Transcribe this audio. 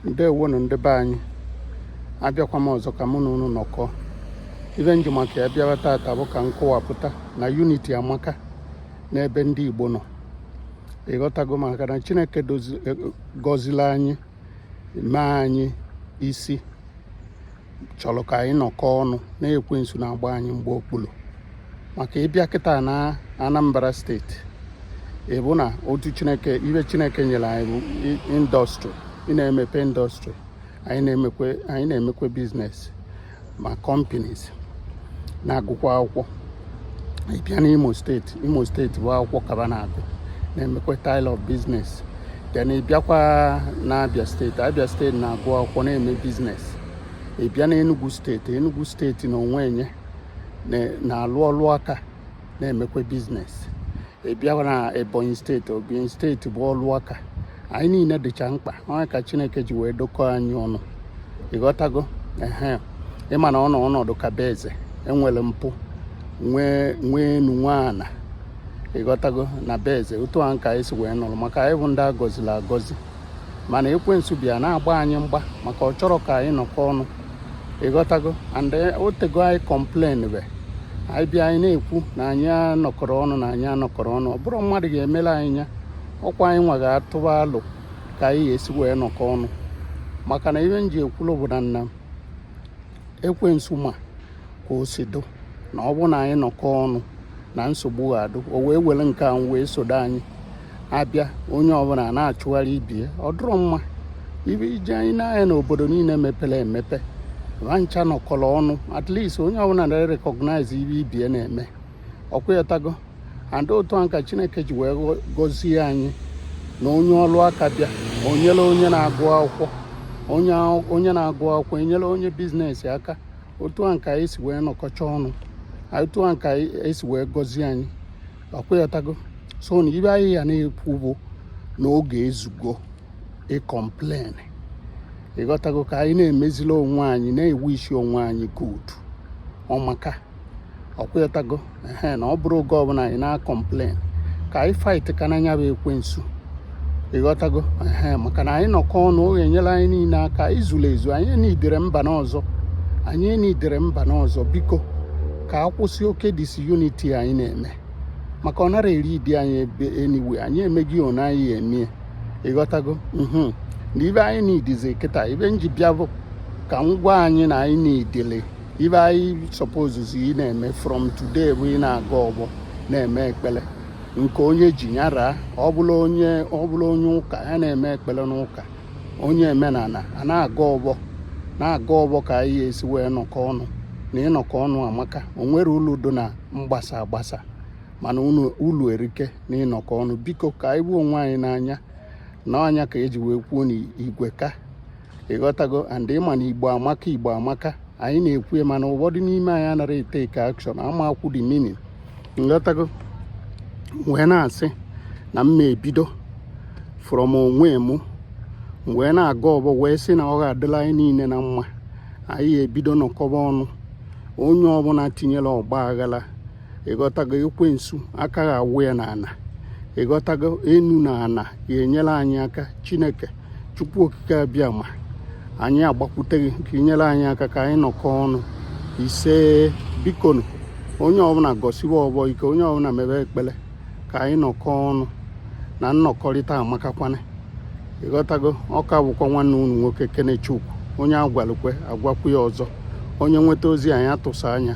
ndewonu ndị be anyị abịakwa m ọzọ ka mụ na unu nọkọ ive m ji maka ya bịawa taata bụ ka m kọwapụta na unity amaka n'ebe ndị Igbo nọ ị ghọtago maka na Chineke e, gọzili anyị mee anyị isi chọrọ ka anyị nọkọ ọnụ na ekwensu na-agba anyị mgba okpuru maka ị bịa kịta na Anambra steeti ị vụ na otu chineke ive chineke nyere anyị bụ industry ị na-emepe industry anyị na-emekwe anyị na-emekwe business ma companies na-agụkwa akwụkwọ ị bịa n'Imo steeti Imo steeti bụ akwụkwọ ka va na-agụ na-emekwa style of business then ị bịakwa na Abia steeti Abia steeti na-agụ akwụkwọ na-eme business ị bịa na Enugu steeti Enugu steeti na onwe nye na-alụ ọlụ aka na-emekwa business ị bịa na Ebonyi steeti Ebonyi steeti bụ ọlụ aka anyị niile dịcha mkpa ọ ya ka chineke ji wee dokọọ anyị ọnụ ị ghọtago ehe ị ma na ọnọ ọnọdụ ka be eze e nwere mpụ nwee nwee enu nwee ana ị ghọtago na be eze otu a ka anyị si wee nọrọ maka anyị bụ ndị a gọzili agọzi mana ekwensu bịa na-agba anyị mgba maka ọ chọrọ ka anyị nọkọ ọnụ ị ghọtago and o teego anyị complain be anyị bịa anyị na-ekwu na anyị anọkọrọ ọnụ na anyị anọkọrọ ọnụ ọ bụrọ mmadụ ga-emelụ anyị ya ọ kwa anyị nwa ga-atụba alo ka anyị ga-esi wee nọkọ ọnụ maka na ihe m ji ekwulu bụ na na ekwensu ma ka o si dụ na ọ bụ na anyị nọkọ ọnụ na nsogbu ga-adụ o wee were nke ahụ wee sodo anyị a bịa onye ọbụla na-achụgharị ibe ye ọ dụrọ mma ibe ije anyị n'anya na obodo niile mepere emepe va ncha nọkọrọ ọnụ at least onye ọbụla na-recognize ive ibe ye na-eme ọ kwa ị ghọtago and otu a ka chineke ji wee gọzie anyị na onye ọlụ aka bịa enyere onye na-agụ akwụkwọ onye na-agụ akwụkwọ enyere onye business aka otu a ka anyị si wee nọkọcha ọnụ otu a ka anyị si wee gọzie anyị ọ kwa ị ghọtago so na ive anyị ya na-ekwu bụ na oge ezugo ịcomplain ị ghọtago ka anyị na-emezila onwe anyị na-ewusi onwe anyị good ọ maka ọ kwa ị ghọtago ehe na ọ bụrọ oge ọbụla anyị na-acomplain ka anyị fight kene nya bụ ekwensu ị ghọtago ehe maka na anyị nọkọ ọnụ ọ ga-enyelụ anyị niile aka izuru ezu anyị needili one another anyị needili one another biko ka a kwụsị oke disunity anyị na-eme maka ọ narọ e-lead anyị ebe anywhere anyị emeghị one anyị emie ị ghọtago mhm. na ive anyị needizi kịta ive m ji bịa bụ ka m gwa anyị na anyị needili ife anyị supposezi ị na-eme from today bụ ị na-agọ ọfọ na-eme ekpele nke onye ji nyara ọ bụla onye ọ bụla onye ụka ya na-eme ekpele n'ụka onye omenana a na-agọ ọfọ na-agọ ọfọ ka anyị esi wee nọkọ ọnụ na ịnọkọ ọnụ amaka o nwerọ ulu dị na mgbasa agbasa mana ulu erike na ịnọkọ ọnụ biko ka anyị fụ onwe anyị n'anya na ọ nya ka eji wee kwuo n'igwe ka ịghọtago and ịma na igbo amaka igbo amaka anyị na-ekwu mana ụfọdụ n'ime anyị anara etake action amakwu the meaning ịghọtago m wee na-asị na m na-ebido from onwe m wee na-agọ ọfọ wee sị na ọ ga-adịla anyị niile na mma anyị ebido nọkọba ọnụ onye ọbụla tinyere ọgba aghara ịghọtago ekwensu aka ga-awụ ya na ana ịghọtago enu na ana ya enyere anyị aka chineke chukwu okike abịama anyị agbakwute gị ka i nyere anyị aka ka anyị nọkọ ọnụ ise bikonu onye ọbụla gọsiwe ọfọ ike onye ọbụla mebe ekpele ka anyị nọkọ ọnụ na nnọkọrịta amakakwana ịghọtago ọ ka bụkwa nwanne unu nwoke kenechukwu onye agwalu kwe agwakwu ya ọzọ onye nweta ozi anyị atụsa anya